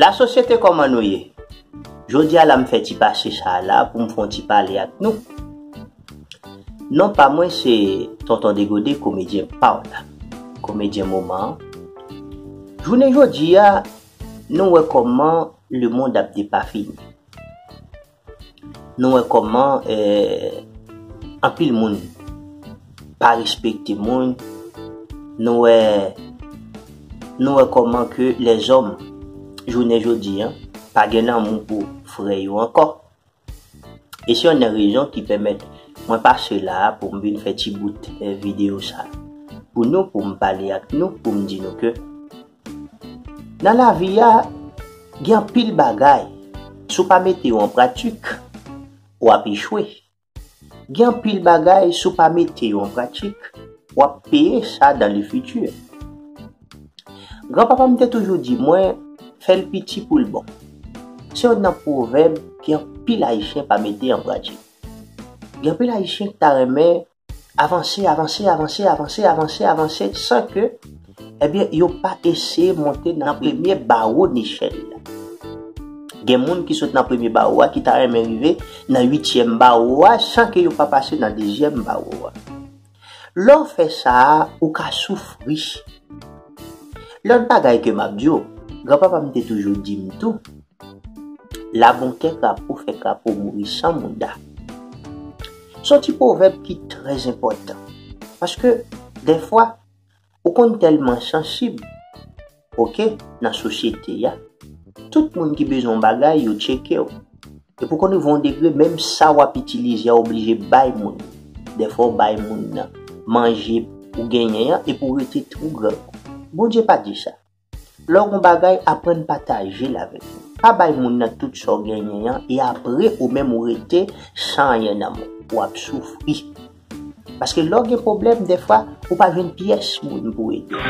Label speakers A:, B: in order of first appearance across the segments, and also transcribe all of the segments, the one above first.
A: La sosyete koman nou ye? Jodi a la m fè ti pase sa a la pou m fon ti pale ak nou. Non pa mwen se Tonton Degode komedyen paw la, komedyen moman an. Jounen jodi a nou wè kòman lemond ap depafini. Nou wè kòman anpil moun pa respekte moun, nou wè nou wè kòman ke lèzòm jounen jodi a pa gen lanmou pou frè yo ankò, E se yonn nan rezon ki pèmèt mwen pase la a pou m vin fè ti bout videyo sa pou nou, pou m pale ak nou, pou m di nou ke nan lavi a gen anpil bagay si w pa mete yo an pratik w ap echwe. Gen anpil bagay si w pa mete yo an pratik w ap peye sa dan le fiti. Gran papa m te toujou di mwen, fè l piti pou l bon. Se youn nan pwovèb ke anpil Ayisyen pa mete an pratik. Gen anpil Ayisyen ki ta renmen avanse, avanse, avanse, avanse, avanse, avanse san ke ebyen yo pa eseye monte nan premye bawo nechèl la. Gen moun ki sot nan premye bawo a ki ta renmen rive nan uityèm bawo a san ke yo pa pase nan dezyèm bawo a. Lè w fè sa a, ou ka soufri. Lòt bagay ke m ap di w, granpapa m te toujou di m tou, La bon kè krapo fè krapo mouri san mouda. Se yon ti pwovèb ki trèzenpòtan, paske dèfwa, Ou konn tèlman sansib ok nan sosyete a, tout moun ki bezwen yon bagay yo tcheke w. Epi ou konn rive yon degre menm sa w ap itilize a ou oblije bay moun. Dèfwa ou bay moun nan manje ou genyen an epi ou rete twou grangou. Bondye pa di sa. Lè w gen yon bagay, aprann pataje l avèk moun. Pa bay moun nan tout sa w genyen an e apre ou menm ou rete san anyen nan men. W ap soufri. Paske lè w gen pwoblèm dèfwa, ou pa jwenn pyès moun pou ede w.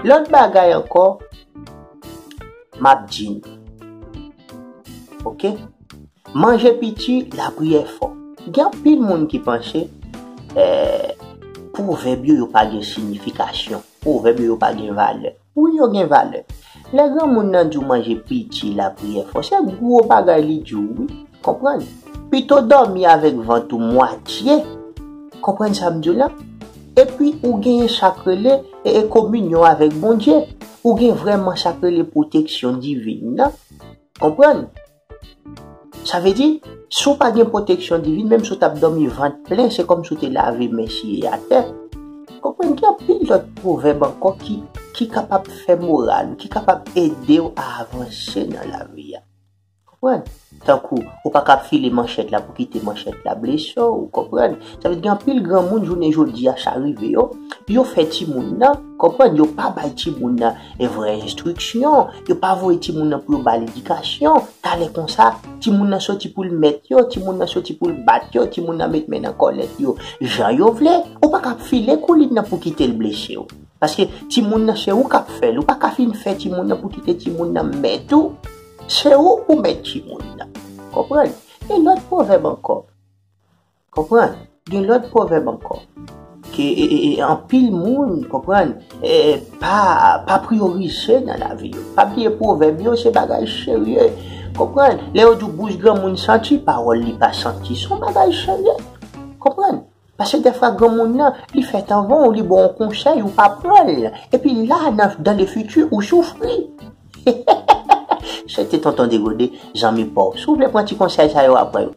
A: Lòt bagay ankò, m ap di nou. Ok? Manje piti, lapriyè fò. Gen anpil moun ki panse pwovèb yo yo pa gen siyifikasyon, pwovèb yo yo pa gen valè. Wi yo gen valè. Lè granmoun nan di w manje piti, lapriyè fò, se gwo bagay li di w wi. Konprann? Pito dòmi avèk vant ou mwatye, konprann sa m di w la? Epi ou genyen sa k rele kominyon avèk Bondye. Ou gen vrèman sa k rele pwoteksyon divin nan. Konprann? Sa vle di, si w pa gen pwoteksyon divin, menm si w t ap dòmi vant plen, se kòmsi w te lave men siye atè. Konprann gen anpil lòt pwovèb ankò ki kapab fè moral ou, ki kapab ede w a avanse nan lavi a. Konprann? Tankou, ou pa ka ap file manchèt la pou kite manchèt la blese w, ou konprann? Sa vle di gen anpil granmoun jounen jodi a sa rive yo, yo fè timoun nan, konprann, yo pa bay timoun nan E vrè enstriksyon, yo pa voye timoun nan pou yo ba l edikasyon, talè konsa, timoun nan soti pou l mèt yo, timoun nan soti pou l bat yo, timoun nan met men nan kòlèt yo, jan yo vle, ou pa kab file koulin nan pou kite l blese w. Paske timoun nan se ou k ap fè l, ou pa ka fin fè timoun nan pou kite timoun nan mèt ou, se ou pou mèt timoun nan. Konprann? Gen lòt pwovèb ankò. Konprann? Gen lòt pwovèb ankò ke anpil moun, konprann, pa priyorize nan lavi yo. Pa bliye pwovèb yo se bagay serye. Konprann? Lè yo di w bouch granmoun santi, pawòl li pa santi, se yon bagay serye. Konprann? Pase dèfwa granmoun nan, li fèt anvan w, li ba w yon konsèy, ou pa pran l. Epi la, dan le fiti, ou soufri. Se te Tonton Degode, zanmi pa w. Si w vle pran ti konsèy sa yo, aprann yo.